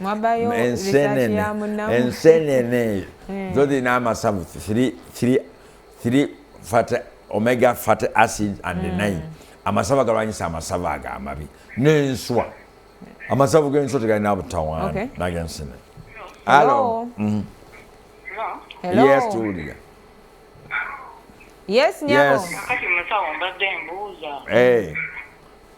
mwabayo ensenene ensenene hmm. zo zirina amasavu three fat omega fat acid and hmm. nine amasavu agalwanyisa amasavu ago amabi n'enswa amasavu g'enswa tegalina butawaana nagensenene alo mm-hmm. yes tuwulira yes nyabo yes. kati musawo mbadde mbuuza hey. Eh.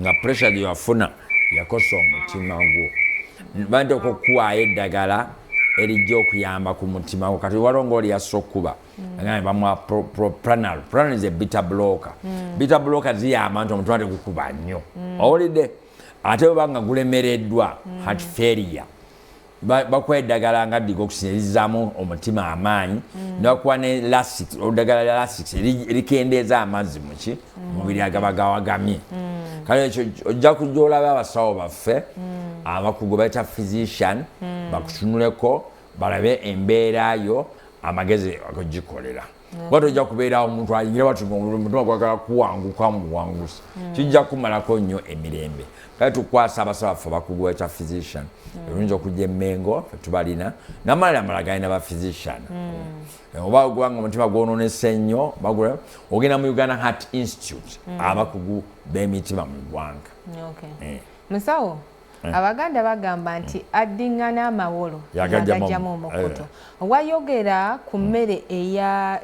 nga pressure gye wafuna yakosa omutima gwo bante okukuwaayo eddagala erijja okuyamba ku mutima gwo kati waliwo ngaoli yassa okukuba mm. bamwa pranal pranal is a bitter blocker mm. bitter blocker ziyamba nti omutima tegukuba nnyo mm. owulidde ate webanga gulemereddwa heart failure bakuwa eddagala nga digox erizaamu omutima amaanyi mm. nebakuwa ne lasic oludagala lya lasic erikendeeza amazzi muki mm. mubiri agaba gawagamye mm. kale ekyo ojja kujja olaba abasawo baffe abakugu baita physician bakutunuleko balabe embeera yo amagezi agogikolera kuba tojja kubeerawo omuntu ayingira bati omutima gwagala kuwanguka muwangusi hmm. kijja kumalako nnyo emirembe kale tukwasa abasaba ffe abakugu ekya physician hmm. erungi okujja emengo tubalina namalala amala galina ba physician hmm. eh, oba ogubanga omutima gwononese nnyo bagula ogenda mu uganda heart institute abakugu b'emitima mu ggwanga eh. musawo Eh. abaganda bagamba nti mm. addingana amawolo yagajjamu omukutu eh. wayogera ku mm. mmere eya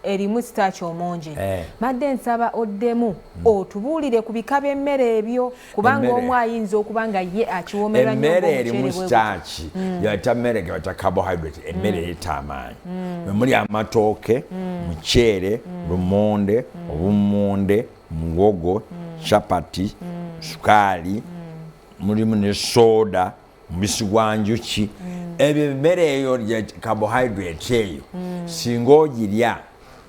eh, erimu sitaaki omungi madde nsaba oddemu mm. otubuulire ku bika by'emmere ebyo kubanga omu ayinza okuba nga ye akiwomerwa emmere erimu sitaaki yata mmere gebata carbohydrate emmere eyita amaanyi mwe muli amatooke muceere lumonde obummonde muwogo mm. chapati mm. sukaali mm. mulimu ne soda mubisi gwa njuki mm. ebyo emmere eyo lya carbohydrate eyo mm. singa ogirya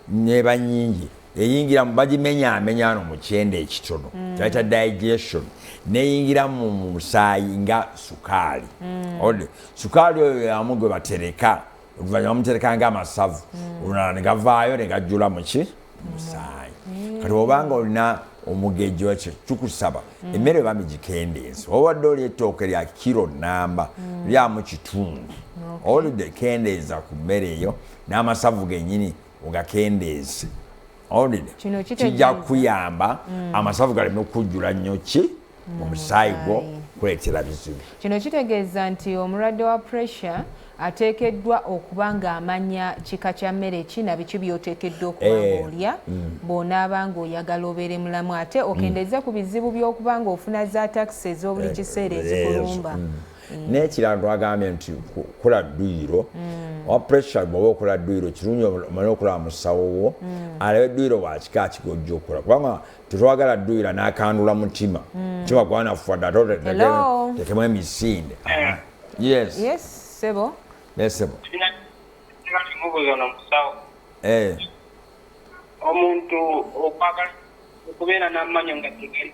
neba nyingi eyingira mu bagimenyaamenya ano mu kyenda ekitono mm. kyayita digestion neyingira mu musaayi nga sukaali mm. ode sukaali oyo yamu gwe batereka oluvannyuma bamuterekanga amasavu mm. olunala ne gavaayo ne gajjula muki mm. musaayi mm. kati obanga olina omugejjo ekyo kikusaba emmere eba migikendeezi obadde oli ettooke lya kiro namba lyamu kitundu olidde kendeeza ku mmere eyo n'amasavu gennyini ogakendeeze owulidde kijja kuyamba mm. amasavu galeme kujjula nnyo ki mm, mu musaayi gwo kuleetera bizibu kino kitegeeza nti omulwadde wa pressure ateekeddwa okuba ng'amanya kika kya mmere ki na biki by'oteekeddwa okuba eh, ng'olya mm. bw'onaaba ng'oyagala obeere mulamu ate okendeeze ku bizibu by'okuba ng'ofuna za takisi ez'obuli eh, kiseera ezikulumba Mm. n'ekirala twagambye nti kula dduyiro mm. owa pressure bwoba okola dduyiro kirungi omale okulaba musawo wo mm. alabe dduyiro wakika kigojja okola kubanga tetwagala dduyira n'akandula mutima mutima gwanafuwa dda totekemu emisinde ah. yes sebo nesebo eh. omuntu okwagala okubeera n'amanyo nga tegeri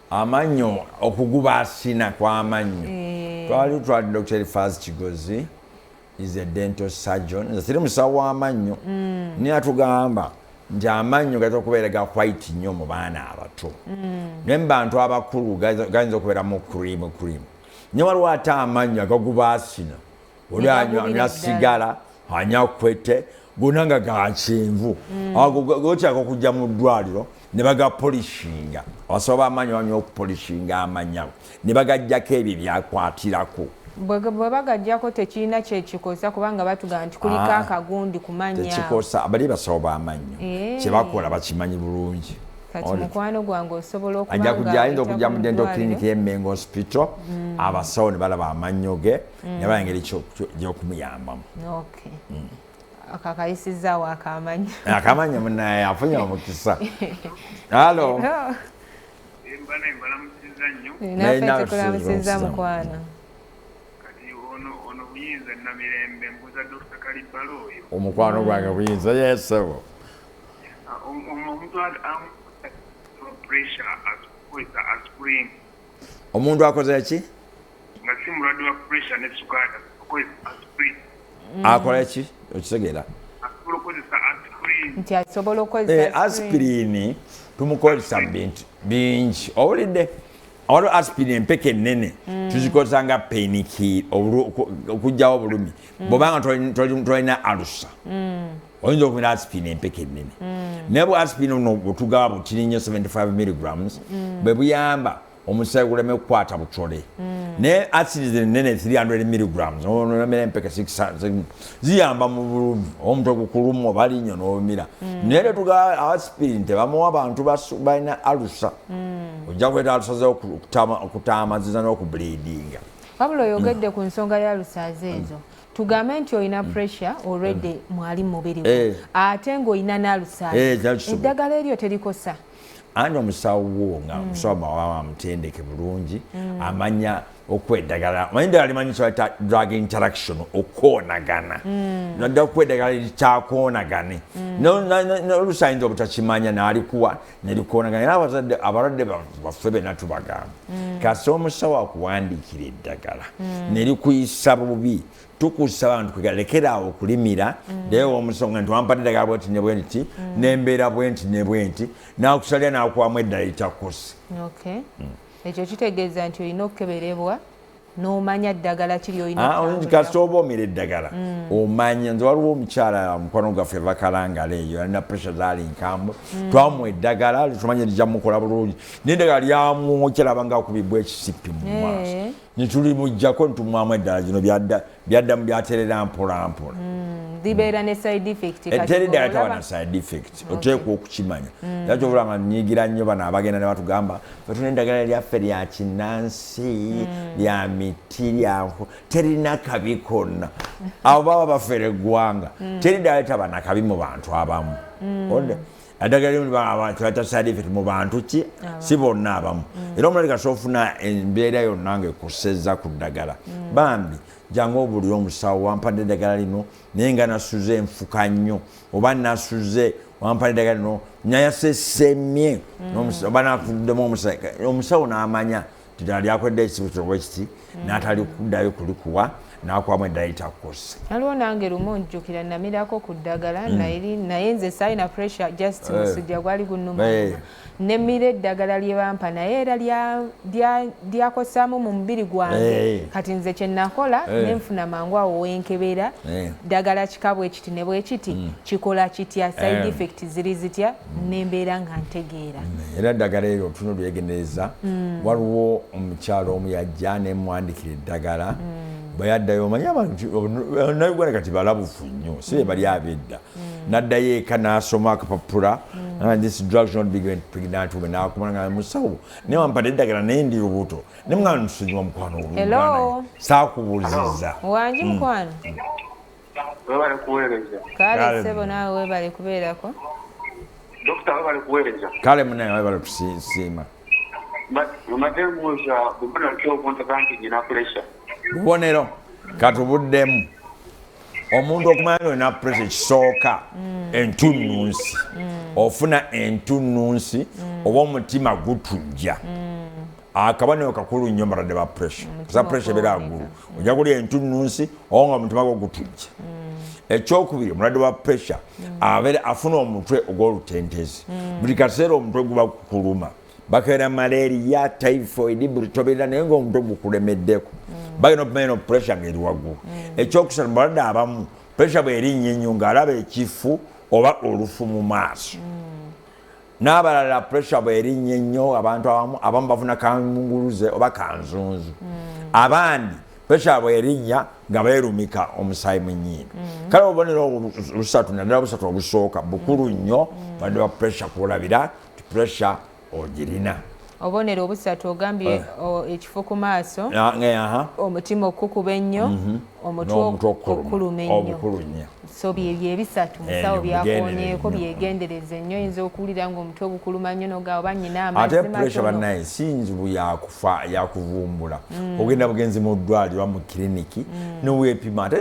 amannyo okuguba asina kwamannyo eh. twali twali dr elifaz kigozi is a dental surgeon nze siri musawo w'amannyo mm. naye atugamba nti amannyo gayinza okubeera ga white nnyo mu baana abato mm. naye mu bantu abakulu gayinza okubeera mu cream cream naye waliwo ate amannyo agaguba asina oli anywa sigala anywa kwete gona nga gakyenvu mm. ago gotyako kujja mu ddwaliro ne bagapolishinga abasawo bamaanyi bamya okupolishinga amanya ne bagajjako ebyo byakwatirako bwe bagajjako tekirina kyekikosa kubanga batugamba nti kuliko ah, akagundi kumanyakikosa bali basawo bamannyo eh. kyebakola bakimanyi bulungi kati mukwano gwange osobola okujja ayinza okujja mu dento clinic yemengo hospital mm. abasawo ne balaba amannyo ge mm. naba engeri gyokumuyambamu mm. akakayisizaawo akamanyi akamanyi munaye afunye omukisa alo naye nawe tukulamusiza mukwano omukwano gwange buyinza yesebo ah, omuntu omuntu akoze ki nga si mulwadde wa pressure ne sukaada okozesa aspirin mm. akola ki okitegeera asobola okozesa aspirin nti asobola okozesa eh, aspirin tumukozesa bintu bingi owulidde waliwo aspirin empeke ennene mm. tuzikozesa nga peniki okugyawo obulumi mm. bwobanga tolina alusa oyinza okumira asipini empeke ennene mm. naye bwe asipini buno butugaba butini nnyo 75 milligrams mm. bwe buyamba omusaayi guleme kukwata butole mm. naye asiri zino nnene 300 milligrams nomira empeke ziyamba mu bulumi omuntu okukulumu oba linnyo n'omira naye tetugaba asipini tebamuwa bantu balina alusa ojja kuleeta alusa ze okutaamaziza n'okubuliidinga wabula oyogedde ku nsonga ya alusa ze ezo tugambe nti olina mm. pressure already mm. mwali mumubiri eh. ate ng'olina n'alusaala eh, eddagala eryo terikosa ani omusawo wo nga mm. omusawo mawawa amutendeke bulungi amanya okuwa eddagala manyi ddala limanyi kyata drug interaction okwonagana nadda okuwa eddagala likyakwonagane nolusayinza obutakimanya nalikuwa nelukoonagana era abazadde abalwadde baffe bena tubagamba mm. kasi omusawo akuwandiikira eddagala mm. nelikuyisa bubi tukusa abantu kwegalekeraawo okulimira mm. naye omusonga nti wampadde eddagala bwenti nebwenti nembeera bwenti nebwenti nakusalira nakuwamu eddala etakusi ekyo kitegeeza nti olina okukeberebwa nomanya ddagala ki lyolina ah, kasita oba omira eddagala mm. omanya nze waliwo omukyala mukwano gwaffe vakalangala eyo alina pressure zaali nkambwe mm. twamu eddagala tumanya lija mukola bulungi naye eddagala lyamwokyerabanga akubibwa ekisipi mu maaso eh. nituli mujjako nitumwamu eddala gino byadda byaddamu byaterera mpolampola mm, zibeera ne side effect eh, teri ddala tawa na side effect oteekwa okukimanya mm. era kyobola nga nyigira nnyo bano abagenda ne batugamba fetuna eddagala lyaffe lya kinnansi mm. lya miti lyanku terina kabi konna abo baba bafere eggwanga teri ddala taba nakabi mu bantu abamu adagala limu twayita sadifit mu bantu ki si bonna abamu mm. era omulali kati ofuna embeera yonna nga ekusezza ku ddagala mm. bambi jangu obulire omusawo wampadde eddagala lino naye nga nasuze enfuka nnyo oba nasuze wampadde eddagala lino nayasesemye mm. oba nafuddemu omusawo n'amanya ddala lyakwedda ekisibukiro bwe kiti mm. n'atali kuddayo kulikuwa n'akuwamu eddala litakukozesa waliwo nange lumu njjukira namirako ku ddagala mm. naye nze saalina pressure just eh. musujja gwali gunnuma eh. nemira eddagala lye bampa naye era lyakosaamu mu mubiri gwange eh. kati nze kye nakola ne nfuna mangu awo wenkebera ddagala kika bwe kiti ne bwe kiti mm. kikola kitya side effect ziri zitya nembeera nga ntegeera mm, era eddagala eryo tunu lyegendereza mm. waliwo omukyalo omu yajja nemwandikira eddagala mm. bwe yaddayo omanye abantu nauganda kati balabufu nnyo si be bali abedda naddayo eka nasoma akapapula nakumanga musawo naye wampada eddagala naye ndi lubuto ne mwana nsonyiwa mukwano sakubuziza wangi mukwano webale kuweereza kale sebo naawe webale kubeerako dokita webale kuweereza kale munaye webale kusiima omadde mbuuza bubonero ki obuntaga nti nyina pulesa bubonero katubuddemu omuntu okumanya nti olina pulesa ekisooka mm. entunnunsi mm. ofuna entunnunsi mm. oba omutima gutujja akabonero kakulu nnyo mbalade ba pressure za pressure ebeera ngulu ojja kulya entunnunsi oba nga omutima gwo gutujja mm. ekyokubiri omulwadde wa pressure mm. abeera afuna omutwe ogw'olutentezi mm. buli kaseera omutwe guba kukuluma bakeera malaria typhoid buli tobeera naye ngaomutwe gukulemeddeko bagenda okumanya no pressure ng'eri waggulu ekyokusatu mubalwadde abamu pressure bwerinnya ennyo ng'alaba ekifu oba olufu mu maaso n'abalala pressure bwerinnye nnyo abantu abamu abamu bafuna kamunguluze oba kanzunzu mm. abandi pressure bwerinnya nga beerumika omusaayi mu nnyindo mm. kale obubonero busatu naddala busatu obusooka bukulu mm. nnyo badde wa pressure kulabira ti pressure ogirina obubonero obusatu ogambye eh. ekifo ku maaso omutima okukuba ennyo mhm. omutwe okukuluma ennyo so byebyo ebisatu eh, musawo byakonyeeko byegendereza ennyo oyinza okuwulira nga omutwe ogukuluma nnyo noga oba nyina amaate pressure banaye si nzibu yakufa yakuvumbula mm. ogenda bugenzi mu ddwaliro mu kiriniki mm. nowepima ate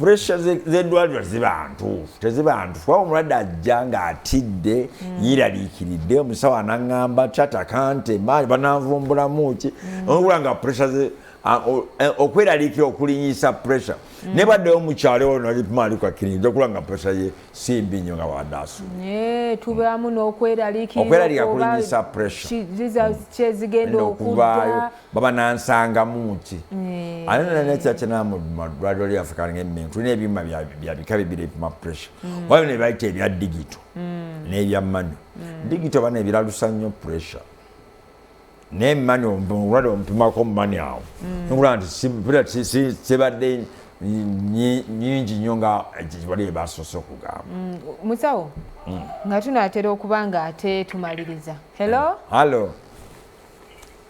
puresha z'eddwaliro ziba ntuufu teziba ntuufu kuba omulwadde ajja ng'atidde mm. yeeraliikiridde omusawo anaŋŋamba cata kante maali bananvumbulamu ki mm. okula nga puresha e, okweraliikira okulinyisa puresha mm. ne baddewo mukyalo ono alipmaalikakiriza okula nga puresha ye si mbi nnyo nga wadaasu tubeamu n'okweraliikira okulinyisa puresha kyezigenda okuvaayo baba nansangamu ki eh. ate nananekyakinamumadwaliro lyaffe kalinga emengo tulina ebyuma byabika bibiri ebipima pressure mm. wabyo nebayita ebya digito mm. nebya manu mm. digito bana ebiralusa nnyo pressure naye mani olwade omupimako mumani awo nkulaba nti sibadde nyingi nnyo nga wali ebasoose okugamba musawo nga tunatera okuba nga ate tumaliriza hello hallo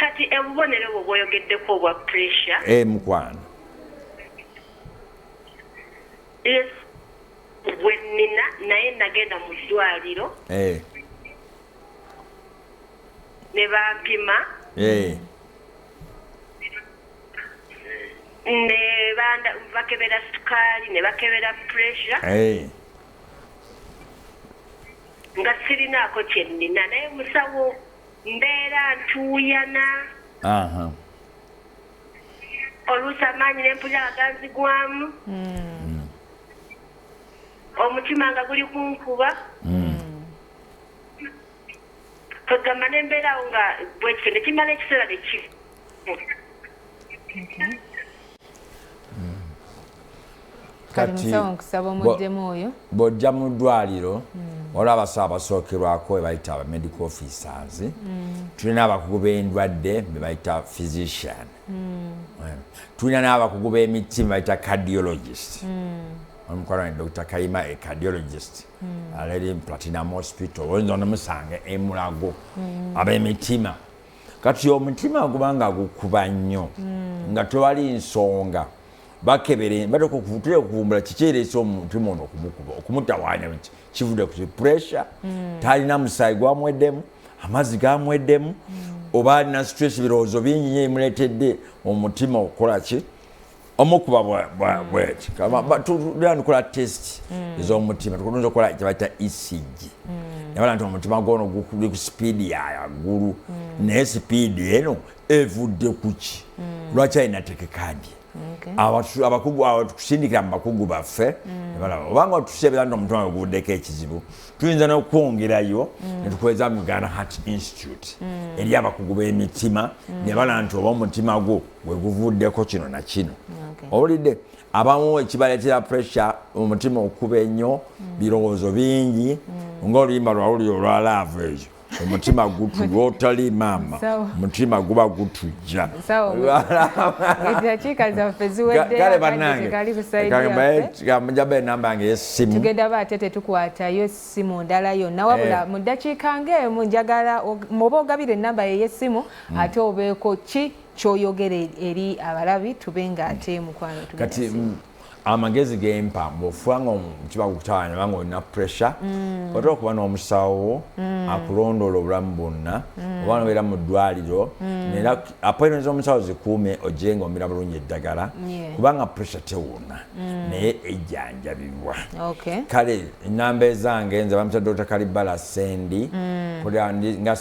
kati obubonero bwo bwoyogeddeko obwa pressure e eh, mukwano gwenina naye nagenda mu ddwaliro eh. ne bampima eh. ne bakebera sukaali ne bakebera pressure nga sirinaako kye nnina naye musawo mbeera ntuuyana oluusi amaanyi ne mpulira nga ganzigwamu hmm. omutima nga guli kunkuba hmm. kwegamba ne mbeerawo nga bwekityo ne kimala ekiseera ne kifa bw'ojja mu ddwaliro hmm. waliwo abasawo abasookerwako bebayita aba medical officers hmm. tulina abakugu b'endwadde bebayita physician hmm. eh, tulina n'abakugu b'emiti bebayita cardiologist omukwano ne dr kayima e cardiologist hmm. alali platinum hospital oyinza onomusanga emulago hmm. ab'emitima kati omutima guba nga gukuba nnyo hmm. nga tewali nsonga bakebere batoka okutera okuvumbula kiki ereese omutima ono okumukuba okumutawaanya nti kivudde ku pressure hmm. talina musaayi gwamweddemu amazzi gamweddemu hmm. oba alina stress birowoozo bingi nyo emuleetedde omutima okukola ki omukuba bweti tulanikola test mm. ezomutima tukulunza okukola kyebaita ecg mm. nabala nti omutima gwono guli ku sipiidi yayagulu mm. naye sipiidi eno evudde kuki lwaki alina tekekadye abakugu awo tukusindikira mu bakugu baffe obanga otuseebera nti omutima gwe guvuddeko ekizibu tuyinza nokwongerayo mm. netukweza mu uganda heart institute mm. eri abakugu b'emitima mm. ne bala nti oba omutima gwo weguvuddeko kino na kino owulidde abamu ekibala kya pressure omutima okuba ennyo birowoozo bingi ngaoluyimba lwawuli olwa laavu eyo omutima gutu lwotali maama omutima guba gutujja kale banangeamujaba enamba yange yesimu tugenda ba ate tetukwatayo simu ndala yonna wabula eh. mu ddakiika ngaemu njagala oba ogabira enamba yeyesimu hmm. ate obeeko ki kyoyogere eri abalabi tube nga ate mukwano kati amagezi gempa bwofuba nga kiba kukutawanya banga olina pressure mm. otera okuba n'omusawo mm. akulondoola obulamu bwonna mm. oba nobeera mu ddwaliro nera appointment z'omusawo zikuume ogire nga omira bulungi eddagala kubanga pressure tewona naye ejjanjabibwa kale enamba ezange nze bamita dr kalibala sendi nga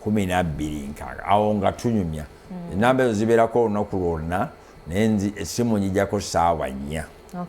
kumi nabbiri nkaaga awo nga tunyumya mm. enamba ezo zibeerako olunaku lwonna naye nzi essimu njijako saawa nnya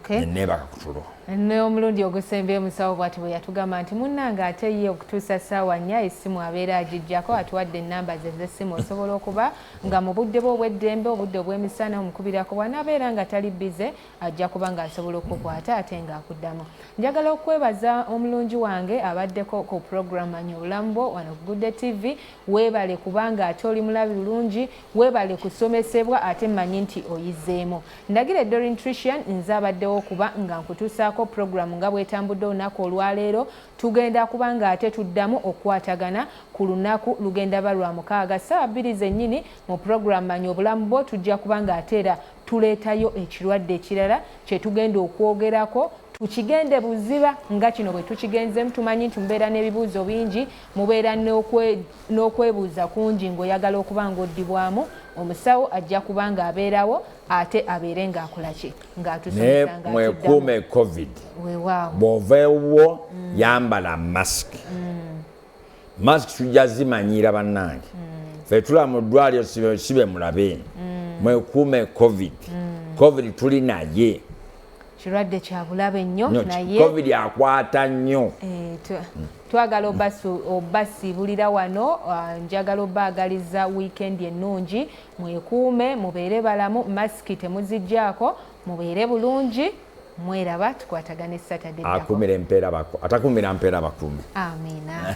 neneebaka kutulo n'omulundi ogusembye musawo bwati bwe yatugamba nti munnange ate ye okutuusa ssaawa nnya essimu abeera agijjako atuwadde ennamba ze z'essimu osobola okuba nga mu budde bwe obw'eddembe obudde obw'emisana omukubirako bw'anaabeera nga tali bize ajja kuba ng'asobola okukukwata ate ng'akuddamu njagala okwebaza omulungi wange abaddeko ku program manya obulamu bwo wano ku gudde tv weebale kubanga ate oli mulabi bulungi weebale kusomesebwa ate mmanyi nti oyizeemu ndagira edorin trician nze abaddewo okuba nga nkutuusaako program nga bwetambudde olunaku olwaleero tugenda kuba nga ate tuddamu okukwatagana ku lunaku lugenda ba lwa mukaaga ssaawa bbiri zennyini mu program manya obulamu bwo tujja kuba nga ate era tuleetayo ekirwadde ekirala kye tugenda okwogerako tukigende buziba nga kino bwe tukigenzeemu tumanyi nti mubeera n'ebibuuzo bingi mubeera n'okwebuuza kungi ng'oyagala okuba ng'oddibwamu omusawo ajja kuba ng'abeerawo ate abeere ng'akola ki ng'atusaemwekuume covid bw'ova ewuwo mm. yambala masiki mm. mask tujja zimanyiira bannange mm. fe tulaba mu ddwaliro sibe mulabe mm. mwekuume covid mm. covid tuli naye kirwadde kyabulabe nnyo naye covid akwata nnyo eh, mm. twagala obasibulira wano ah, njagala obaagaliza wiikendi ennungi mwekuume mubeere balamu masiki temuzijjaako mubeere bulungi mweraba tukwatagane Saturday. Akumira empeera baku atakumira mpeera bakuume. Amina.